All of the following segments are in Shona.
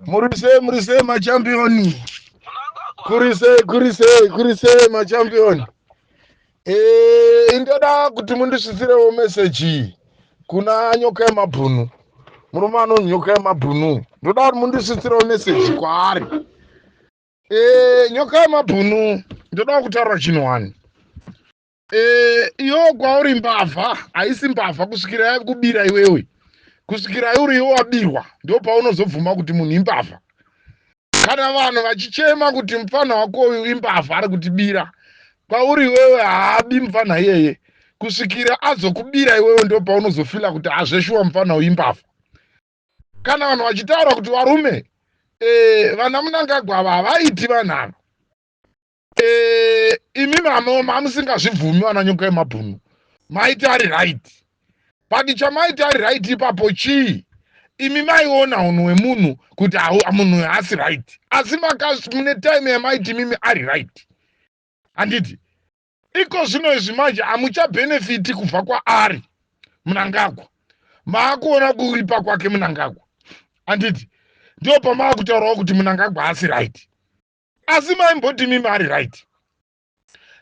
murise murise machampioni kurise kurise kurise machampioni e, eh, indoda kuti mundisvisirewo meseji kuna nyoka yemabhunu murume anonyoka yemabhunu ndoda kuti mundisvisirewo meseji kwaari Eh, nyoka yamabhunu ndoda kutaura chinhu wani eh, iyo kwauri mbavha haisi mbavha kusvikira yakubira iwewe kusvikira uri iwe wabirwa ndo paunozobvuma kuti munhu imbavha kana vanhu vachichema kuti mupfanha wako uyu imbavha ari kutibira kwauri iwewe haabi mupfanha iyeye kusvikira azokubira iwewe ndo paunozofila kuti hazveshuwa mupfanha uyu imbavha kana vanhu vachitaura kuti varume eh, vana munangagwa ava havaiti vanhu ava eh, imi vanoma amusingazvibvumi vana nyoka yemabhunu maiti ari right but chamaiti ari right ipapo chii imi maiona hunhu hwemunhu kuti munhu uyo haasi right asi mune time yamaiti mimi ari right handiti iko zvino izvi manje hamuchabhenefiti kubva kwaari munangagwa maakuona kuripa kwake munangagwa handiti ndiwo pamaakutaurawo kuti munangagwa haasi right asi maimbodimi maari right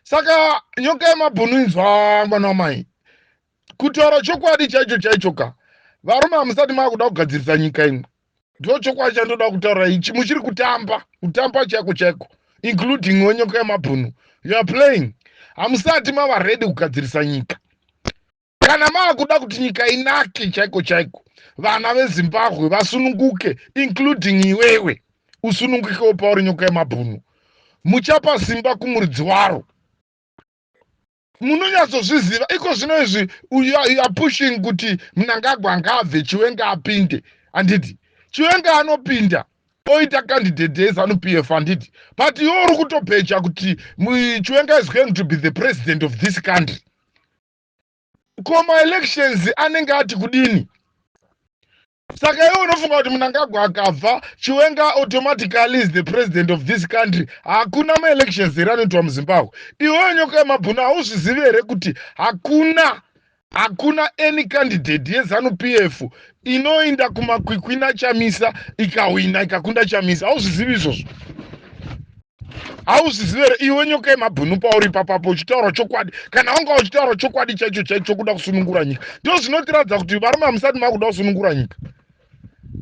saka nyoka yemabhunu inzwa mwana wamai Kutaura chokwadi chaicho chaicho ka varume hamusati maakuda kugadzirisa nyika imwe ndo chokwadi chandoda kutaura ichi muchiri kutamba kutamba chaiko chaiko including wenyoko yamabhunu you are playing hamusati mava ready kugadzirisa nyika kana maakuda kuti nyika inake chaiko chaiko vana vezimbabwe vasununguke including iwewe usunungukewo pauri nyoko yamabhunu muchapa simba kumuridzi waro munonyatsozviziva iko zvino izvi uya pushing kuti mnangagwa ngaabve chiwenga apinde handiti chiwenga anopinda oita candidate yezanu p f handiti but iwo uri kutobheja kuti chiwenga is going to be the president of this country ko maelections anenge ati kudini saka iwe unofunga kuti munangagwa akabva chiwenga automatically is the president of this country hakuna maelections here anoitwa muzimbabwe iweyo nyoka yemabhuna hauzvizivi here kuti hakuna hakuna any candidate yezanu p f inoinda kumakwikwina chamisa ikahwina ikakunda chamisa hauzvizivi izvozvo hauzizive here iwe nyoka yemabhunu pauri ipapapo uchitaura chokwadi kana wanga uchitaura chokwadi chaicho chaicho chokuda kusunungura nyika ndo zvinotiratidza kuti varume hamusati makuda kusunungura nyika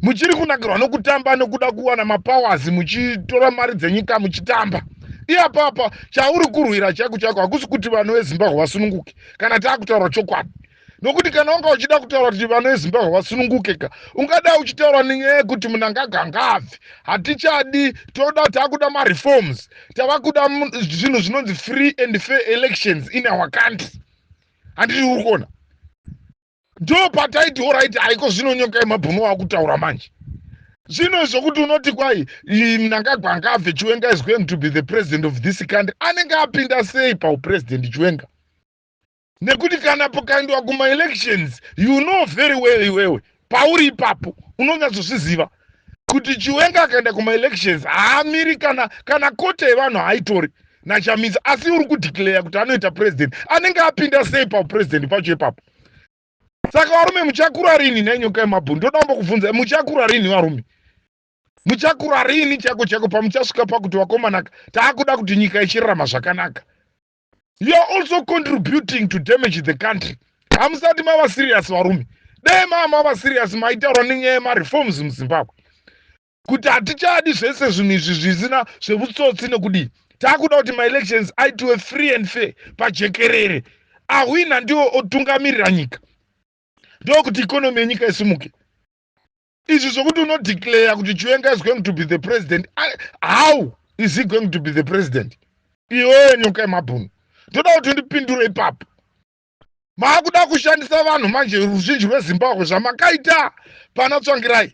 muchiri kunakirwa nokutamba nokuda kuwana mapowers muchitora mari dzenyika muchitamba iyapapa chauri kurwira chaiko chaiko hakusi kuti vanhu vezimbabwe vasununguke kana taakutaura chokwadi nokuti kana wanga uchida kutaura kuti vana vezimbabwe vasununguke ka ungada uchitaura nenyaya yekuti munangagwa ngaabve hatichadi toda takuda mareforms tava kuda mu- zvinhu zvinonzi free and fair elections in our country handiti uri kuona ndo pataiti oraiti haiko zvino nyoka yemabhunu wakutaura manje zvino zvokuti unoti kwai i- mnangagwa ngaabve chiwenga is going to be the president of this country anenge apinda sei paupresident chiwenga nekuti kana pakaendwa kumaelections you know very well iwewe pauri ipapo unonyatsozviziva kuti chiwenga akaenda kumaelections haamiri kana kana kote yevanhu haitori nachamisa asi uri kudeclare kuti anoita president anenge apinda sei paupresident pacho ipapo saka varume muchakura rini nenyoka yemabhuni ndoda kumbo kubvunza muchakura rini varume muchakura rini chako chako pamuchasvika pakuti vakomanaka taakuda kuti nyika ichirarama zvakanaka you are also contributing to damage the country hamusati mava serious varume dai maa mava serious maitaurwa nenyaya yemareforms muzimbabwe kuti hatichadi zvese zvinhu izvi zvisina zvevutsotsi nekudii taakuda kuti maelections aitiwe free and fair pajekerere ahwina ndiwo otungamirira nyika ndokuti ikonomi yenyika isimuke izvi zvekuti unodeclare kuti chiwenga is going to be the president how is he going to be the president iwee nyoka yemabhunu ndoda kuti ndipindure ipapo maakuda kushandisa vanhu manje ruzhinji rwezimbabwe zvamakaita pana tsvangirai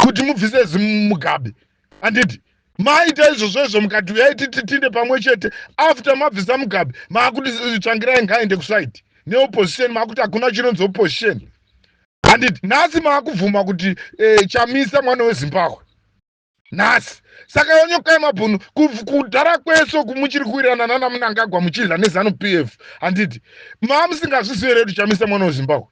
kuti mubvise zimugabe andidi maita izvozvo izvo mukati uyai tititinde pamwe chete after mabvisa mugabe maakuti tsvangirai ngaaende kusaidi neopposition maakuti hakuna chinonzi opposition handiti nhasi maakubvuma kuti e, chamisa mwana wezimbabwe nhasi saka onyokai mabhunu kudhara kwese uku muchiri kuwirana nana munangagwa muchidya nezanu p f handiti maamusingazvizivi here kuti chamisa mwana wezimbabwe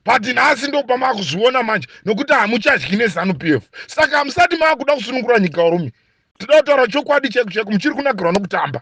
but nhasi ndokuba maakuzviona manje nokuti hamuchadyi nezanu p f saka hamusati maakuda kusunungura nyika urume tinotaura chokwadi chaiku chaiku muchiri kunakirwa nokutamba